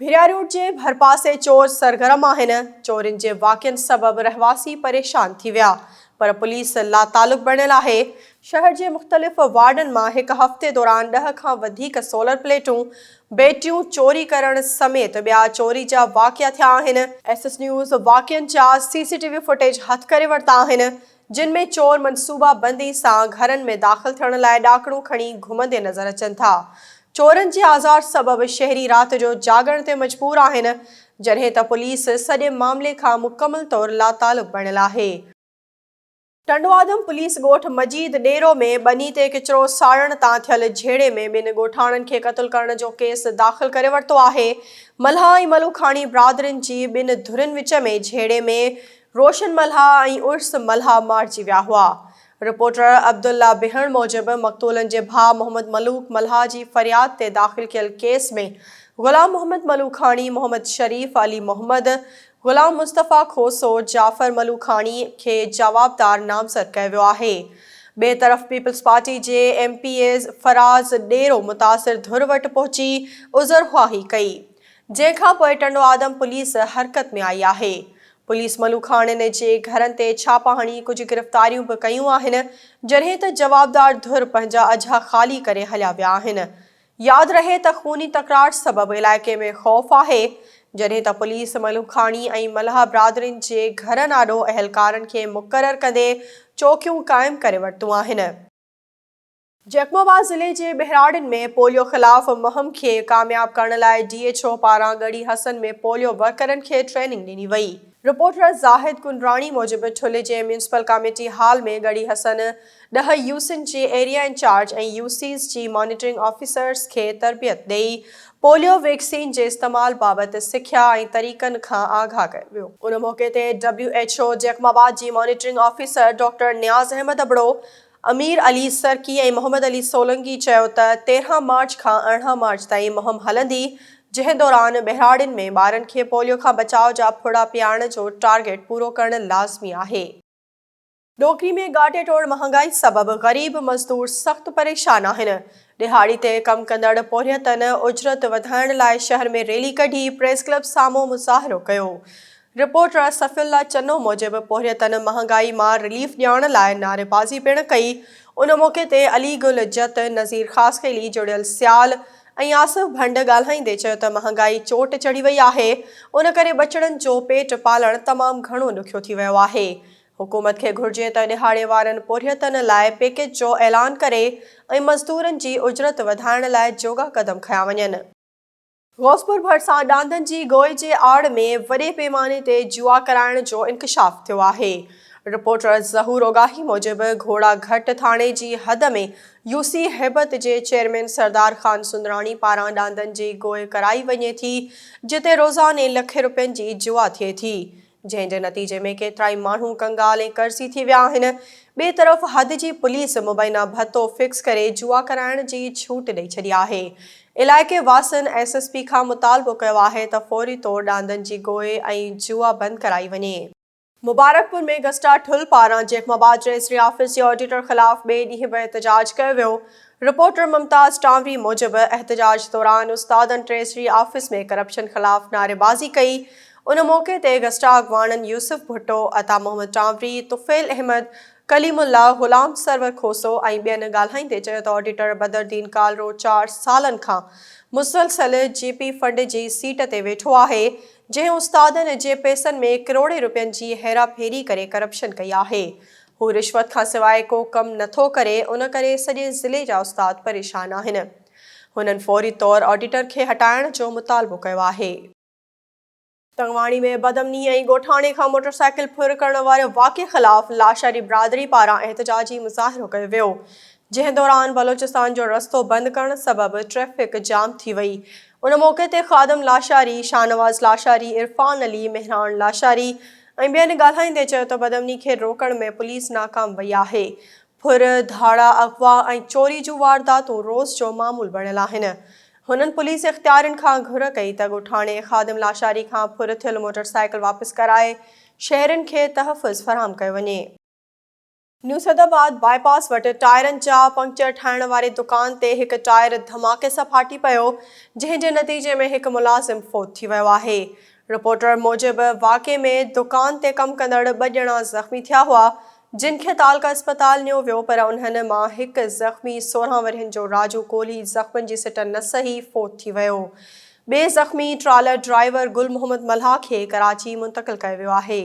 ڀيرا روڊ جي ڀرپاسي چور سرگرم آهن چورين جي واقعن سبب رهواسي پريشان ٿي ويا پر پوليس لاتعلق بڻيل آهي شهر جي مختلف وارڊن مان هڪ هفتي دوران ڏهه کان وڌيڪ سولر پليٽون بيٽريون چوري ڪرڻ سميت ٻيا چوري جا واقعا ٿيا آهن ايس ايس نيوز واقعن جا C C T V footage هٿ ڪري ورتا آهن جن ۾ چور منصوبه بندي سان گهرن ۾ داخل ٿيڻ لاء ڏاڪڻون کڻي گهمندي نظر اچن ٿا. چورن جي آزار سبب شهري رات جو جاڳڻ تي مجبور آهن، جڏهن ته پوليس سڄي معاملي کان مڪمل طور لاتعلق بڻيل آهي. ٽنڊوآدم پوليس ڳوٺ مجيد ڏيرو ۾ ٻني تي ڪچرو ساڙڻ تان ٿيل جهيڙي ۾ ٻن ڳوٺاڻن کي قتل ڪرڻ جو ڪيس داخل ڪري ورتو آهي. ملهان ۽ ملوکاڻي برادرين جي ٻن ڌرين وچ ۾ جهيڙي ۾ روشن ملهاء ۽ عرس ملهاء مارجي ويا هئا. رپورٽر عبدالله بهڻ موجب مقتولن جي ڀاء محمد ملوڪ ملهاء جي فرياد تي داخل ڪيل ڪيس ۾ غلام محمد ملوڪاڻي، محمد شريف، علي محمد، غلام مصطفيٰ کوسو، جعفر ملوڪاڻي کي جوابدار نامزد ڪيو ويو آهي. ٻئي طرف پيپلز پارٽي جي M P A Faraz Dero متاثر ڌر وٽ پهچي عذرخواهي ڪئي. جنهن کان پوء ٽنڊو آدم پوليس حرڪت ۾ آئي آهي. پوليس ملوکاڻين جي گهرن تي ڇاپا هڻي ڪجهه گرفتاريون به ڪيون آهن، جڏهن ته جوابدار ڌر پنهنجا اجها خالي ڪري هليا ويا آهن. ياد رهي ته خوني تڪرار سبب علائقي ۾ خوف آهي، جڏهن ته پوليس ملوکاڻي ۽ ملاح برادرين جي گهرن آڏو اهلڪارن کي مقرر ڪندي چوڪيون قائم ڪري ورتون آهن. جيڪب آباد ضلعي جي ٻهراڙين ۾ پوليو خلاف مهم کي ڪامياب ڪرڻ لاء ڊي ايڇ او پاران ڳڙهي حسن ۾ پوليو ورڪرن کي ٽريننگ ڏني وئي. رپورٽر زاهد ڪنڊراڻي موجب ٺلهه جي municipal committee hall ۾ Garhi Hassan ڏهه يو سين جي ايريا انچارج ۽ يو سيز جي مانيٽرنگ آفيسرز کي تربيت ڏئي پوليو ويڪسين جي استعمال بابت سکيا ۽ طريقن کان آگاهه ڪيو ويو. ان موقعي تي W H O Jacobabad جي monitoring officer doctor Niaz Ahmed Abro, Amir Ali Sarki ۽ Muhammad Ali Solangi چيو ته تيرهن مارچ کان ارڙهن مارچ تائين مهم هلندي، جنهن دوران ٻهراڙين ۾ ٻارن کي پوليو کان بچاء جا ڦڙا پيئارڻ جو ٽارگيٽ پورو ڪرڻ لازمي آهي. ڏوڪري ۾ گهاٽي ٽوڙ مهانگائي سبب غريب مزدور سخت پريشان آهن، ڏهاڙي تي ڪم ڪندڙ پورهيتن اجرت وڌائڻ لاء شهر ۾ ريلي ڪڍي پريس ڪلب سامهون مظاهرو ڪيو، رپورٽ راء صفي الله چنو موجب پورهيتن مهانگائي مان رليف ڏياڻ لاء نعريبازي پڻ ڪئي، ان موقعي تي علي گل جت، نذير خاصخيلي، جڙيل سيال ۽ آصف ڀنڊ ڳالهائيندي چيو ته مهانگائي چوٽ چڙهي وئي آهي، ان ڪري ٻچڙن جو پيٽ پالڻ تمام گهڻو ڏکيو ٿي ويو آهي، حڪومت کي گهرجي ته ڏهاڙي وارن پورهيتن لاء پيڪيج جو اعلان ڪري ۽ مزدورن جي اجرت وڌائڻ لاء جوڳا قدم کنيا وڃن. غوثپور ڀرسان ڏاندن جي گوئي جي آڙ ۾ وڏي پيماني تي جوا ڪرائڻ جو انڪشاف ٿيو آهي. رپورٽر ظهور اوڳاهي موجب گهوڙا گهٽ ٿاڻي جي حد ۾ يوسي هيبت جي چيئرمين سردار خان سندراڻي پاران ڏاندن جي گوئي ڪرائي وڃي ٿي جتي روزاني لکين روپين جي جوا ٿئي ٿي جنهن جي نتيجي ۾ ڪيترائي ماڻهو ڪنگال ۽ قرضي ٿي ويا آهن، ٻئي طرف حد جي پوليس مبينا ڀتو فڪس ڪري جوا ڪرائڻ جي ڇوٽ ڏئي ڇڏي آهي، علائقي واسين ايس ايس پي کان مطالبو ڪيو آهي ته فوري طور ڏاندن جي گوئي ۽ جوا بند ڪرائي وڃي. مبارڪپور ۾ گسٽا ٺل پاران جيخم آباد ريسري آفيس جي آڊيٽر خلاف ٻئي ڏينهن به احتجاج ڪيو ويو، رپورٽر ممتاز ٽانوري موجب احتجاج دوران استادن ٽريسري آفيس ۾ ڪرپشن خلاف نعريبازي ڪئي، ان موقعي تي گسٽا اڳواڻن يوسف ڀٽو، عطا محمد ٽانوري، طفيل احمد، ڪليم الله، غلام سرور کوسو ۽ ٻين ڳالهائيندي چيو ته آڊيٽر بدردين ڪالرو چار سالن کان مسلسل جي پي فنڊ جي سيٽ تي ويٺو آهي جنهن استادن جي پيسن ۾ ڪروڙين روپين جي هيرا ڦيري ڪري ڪرپشن ڪئي آهي هو رشوت کان سواء ڪو ڪم نٿو ڪري ان ڪري سڄي ضلعي جا استاد پريشان آهن هنن فوري طور آڊيٽر کي هٽائڻ جو مطالبو ڪيو آهي. تنگواڻي ۾ بدامني ۽ ڳوٺاڻي کان موٽرسائيڪل ڦر ڪرڻ واري واقعي خلاف لاشاري برادري پاران احتجاجي مظاهرو ڪيو ويو جنهن دوران بلوچستان جو رستو بند ڪرڻ سبب ٽريفڪ جام ٿي وئي ان موقعي تي خادم لاشاري شاهنواز لاشاري عرفان علي مهراڻ لاشاري ۽ ٻين ڳالهائيندي چيو ته بدامني کي روڪڻ ۾ پوليس ناڪام وئي آهي ڦر ڌاڙا اغوا ۽ چوري جون وارداتون روز جو معمول بڻيل آهن هنن پوليس اختيارين کان گهر ڪئي ته ڳوٺاڻي خادم لاشاري کان ڦر ٿيل موٽر سائيڪل واپس ڪرائي شهرين کي تحفظ فراهم ڪيو وڃي. نيو سيد آباد باء پاس وٽ ٽائرن جا پنڪچر ٺاهڻ واري دڪان تي هڪ ٽائر ڌماڪي سان ڦاٽي پيو، جنهن جي نتيجي ۾ هڪ ملازم فوت ٿي ويو آهي. رپورٽر موجب واقعي ۾ دڪان تي ڪم ڪندڙ ٻه ڄڻا زخمي ٿيا هئا، جن کي تعلقه اسپتال نيو ويو پر انهن مان هڪ زخمي سورهن ورهين جو راجو ڪولهي زخمن جي سٽن نه سهي فوت ٿي ويو. ٻئي زخمي ٽرالر ڊرائيور گل محمد ملاح کي ڪراچي منتقل ڪيو ويو آهي.